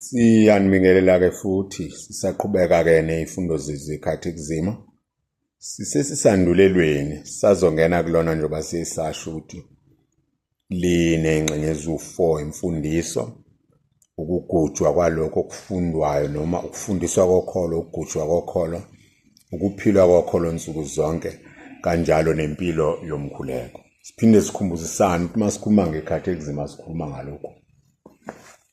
Siyanibingelela-ke futhi sisaqhubeka-ke ney'fundo zezikhathi kuzima sisesisandulelweni sazongena kulona njengoba sesasho ukuthi linengxenye eziwu-4 imfundiso ukugujwa kwalokho okufundwayo noma ukufundiswa kokholo ukugujwa kokholo ukuphilwa kokholo nsuku zonke kanjalo nempilo yomkhuleko siphinde sikhumbuzisane ukuthi uma sikhuluma ngekhathi ekuzima sikhuluma ngalokhu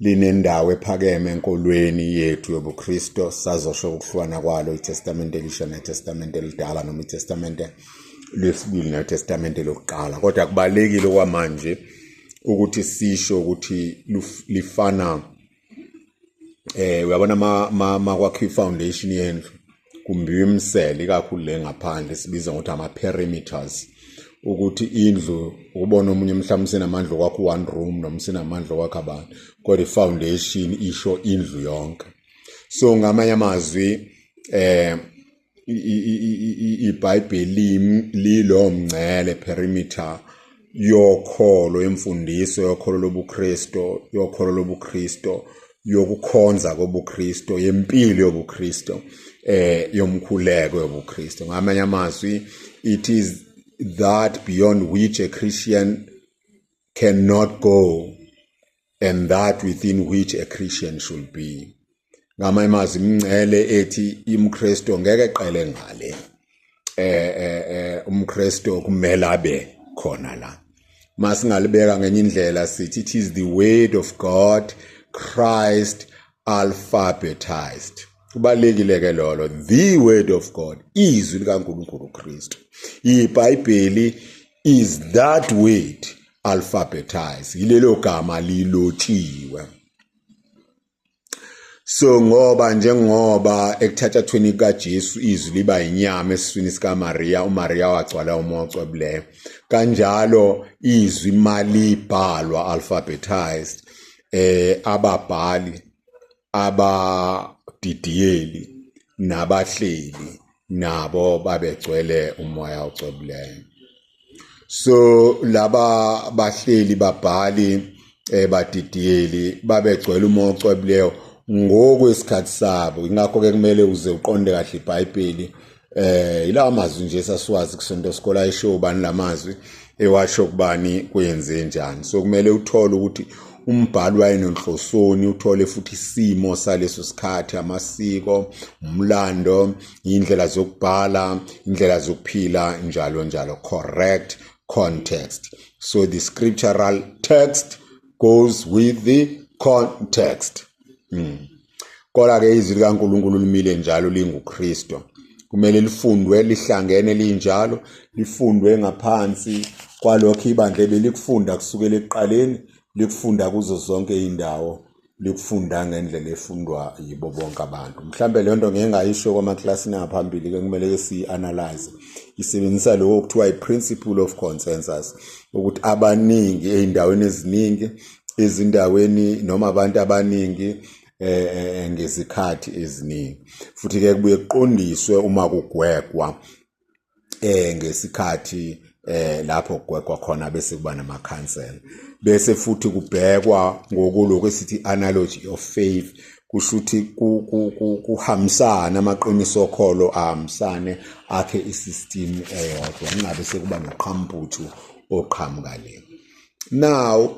linendawo ephakeme enkolweni yethu yobuKristo sazosho ukuhlukana kwalo iTestamente elisha neTestamente elidala noma iTestamente lesibili neTestamente lokuqala kodwa kubalekile kwamanje ukuthi sisho ukuthi lifana eh uyabona ma makwakhiwa ifoundation yendlu kumbiwa imisele ikakhulu le ngaphandle sibiza ngokuthi ama-perimeters ukuthi indlu ukubona omunye mhlawumbe usenamandla okwakho one room noma usenamandla okwakho abantu kodwa i-foundation isho indlu yonke so ngamanye amazwi eh ibhayibheli lilo mngcele perimeter yokholo imfundiso yokholo lobuKristo yokholo lobuKristo yokukhonza kobuKristo yempilo yobuKristo eh yomkhuleko yobuKristo ngamanye amazwi it is that beyond which a Christian cannot go and that within which a Christian should be ngama imazi imncele ethi imkristo ngeke qele ngale eh eh, eh umkristo kumele abe khona la masingalibeka ngenye indlela sithi it is the word of god christ alphabetized kubalekile ke lolo the word of god izwi likaNkuluNkulu uKristu iBhayibheli is that word alphabetize yilelo gama lilotshiwe so ngoba njengoba ekuthathathweni kukaJesu izwi liba inyama esiswini sikaMaria uMaria wagcwala umoya ocwebileyo kanjalo izwi malibhalwa alphabetized eh ababhali abadidiyeli nabahleli nabo babegcwele umoya ocwebileyo so laba bahleli babhali eh, badidiyeli babegcwele umoya ocwebileyo ngokwesikhathi sabo ingakho-ke kumele uze uqonde kahle ibhayibheli eh ilawa mazwi nje sasiwazi kusonto sikola isho ubani lamazwi ewasho kubani kuyenze njani so kumele uthole ukuthi umbhali wayenonhlosoni uthole futhi isimo saleso sikhathi amasiko umlando indlela zokubhala indlela zokuphila njalo njalo correct context so the scriptural text goes with the context mm. Kodwa ke izwi likaNkulunkulu limile njalo linguKristu. Kumele lifundwe lihlangene linjalo, lifundwe ngaphansi kwalokho ibandla ebelikufunda kusukela ekuqaleni, likufunda kuzo zonke indawo, likufunda ngendlela efundwa yibo bonke abantu. Mhlambe le nto ngeke ngayisho kwamaklasini angaphambili ke kumele ke siyi-analyze. Isebenzisa lokho okuthiwa i-principle of consensus ukuthi abaningi ey'ndaweni eziningi ezindaweni noma abantu abaningi eh, eh, eh, ngezikhathi eziningi futhi ke kubuye kuqondiswe uma kugwegwa eh ngesikhathi eh lapho kugwegwa khona bese kuba namakhansela bese futhi kubhekwa ngokuloko esithi analogy of faith kusho ukuthi kuhambisane amaqiniso okholo ahambisane akhe i-system eyodwa kungabe sekuba noqhamputhu oqhamuka le now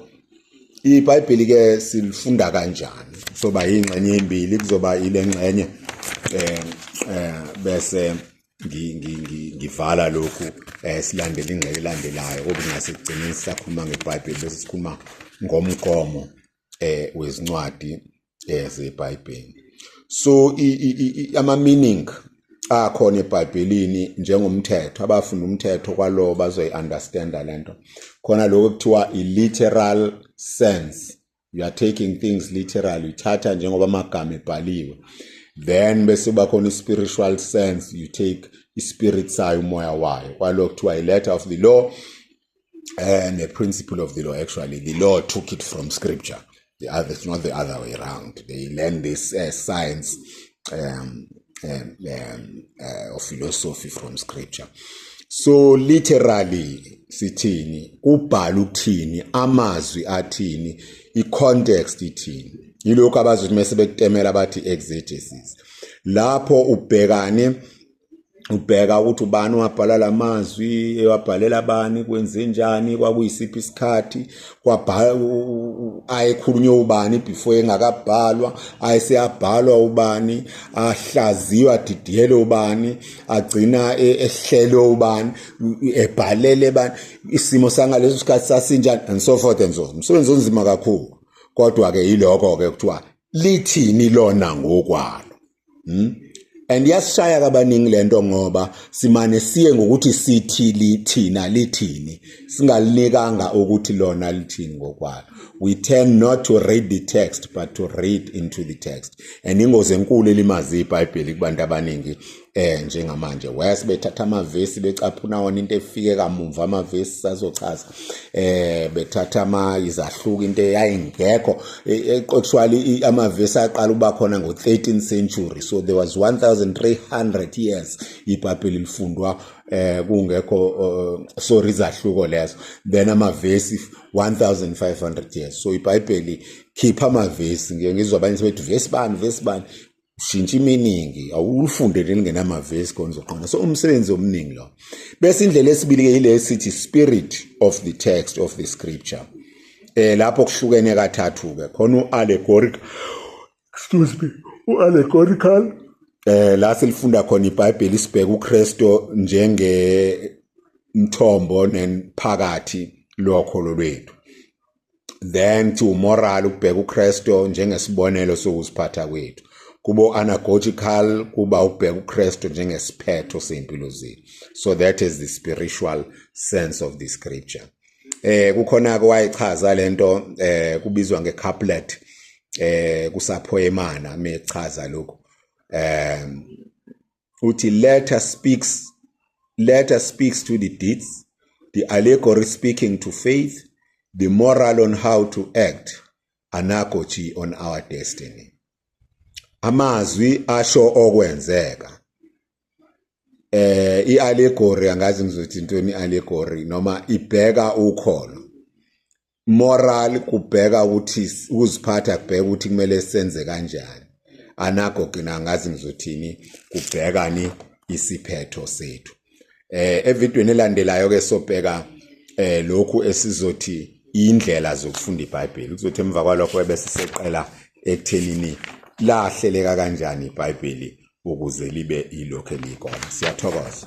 ibhayibheli ke silifunda kanjani soba ingxenye ezimbili kuzoba ilengxenye eh, eh bese ngivala lokhu eh silandela ingxenye elandelayo kodwa ngase kugcina sisakhuluma ngebhayibheli bese sikhuluma ngomgomo eh wezincwadi eh, zeBhayibheli so ama meaning akhona eBhayibhelini njengomthetho abafunda umthetho kwalowo bazoyiunderstanda lento khona lokho kuthiwa i-literal sense you are taking things literally uthatha njengoba amagama ebhaliwe then bese bakhona i-spiritual sense you take i-spirit sayo umoya wayo kwalokho kuthiwa i-letter of the law uh, the principle of the law actually the law took it from scripture the other it's not the other way around they learn this uh, science um, um, um, uh, or philosophy from scripture so literally sithini kubhala ukuthini amazwi athini i-context ithini yilokhu abazothi mese bekutemela bathi exegesis lapho ubhekane ubheka ukuthi ubani wabhala lamazwi ewabhalela abani kwenzenjani kwakuyisiphi isikhathi kwabhala ayekhulunywe ubani before engakabhalwa ayeseyabhalwa ubani ahlaziywa adidiyelwe ubani agcina e, ehlelwe ubani ebhalele bani isimo sangaleso sikhathi sasinjani and so forth and so umsebenzi onzima kakhulu kodwa ke yiloko ke kuthiwa lithini lona ngokwalo hmm? and yasishaya kabaningi lento ngoba simane siye ngokuthi sithi lithina lithini singalinikanga ukuthi lona lithini ngokwalo we tend not to read the text but to read into the text and ingozi enkulu elimazi ibhayibheli kubantu abaningi eh njengamanje wes bethatha amavesi becaphuna wona into efike kamumva amavesi sazochaza eh bethatha ama izahluka into eyayingekho actually e, e, amavesi aqala uba khona ngo 13 century so there was 1300 years ibhayibheli lifundwa eh kungekho uh, sorry izahluko lezo then amavesi 1500 years so ibhayibheli khipha amavesi ngiyengizwa abanye sebethi vesi bani vesi bani ushintsha iminingi awulifunde lingenamavesi konzoqonda so umsebenzi omningi lo bese indlela esibili-ke yile esithi spirit of the text of the scripture eh lapho kuhlukene kathathu-ke khona u-allegoric excuse me u-allegorical eh la silifunda khona ibhayibheli isibheka ukristu njenge mthombo nenphakathi lokho lolwethu then to moral ukubheka uKristu njengesibonelo sokuziphatha kwethu kubo anagogical kuba ukubheka uKristu njengesiphetho sempilo zethu so that is the spiritual sense of the scripture eh kukhona ke wayichaza lento eh kubizwa ngecouplet eh kusaphoyemana mechaza lokho eh uthi letter speaks letter speaks to the deeds the allegory speaking to faith the moral on how to act analogy on our destiny amazwi asho okwenzeka eh iallegory angazi ngizothi intweni iallegory noma ibheka ukholo moral kubheka ukuthi ukuziphatha kubheka ukuthi kumele senze kanjani anago gina ngazi ngizothini kubhekani isiphetho sethu eh evidweni elandelayo ke sobheka eh lokhu esizothi indlela zokufunda iBhayibheli kuzothi emva kwalokho bese seqela ekuthenini lahleleka kanjani iBhayibheli ukuze libe ilokho elikona siyathokoza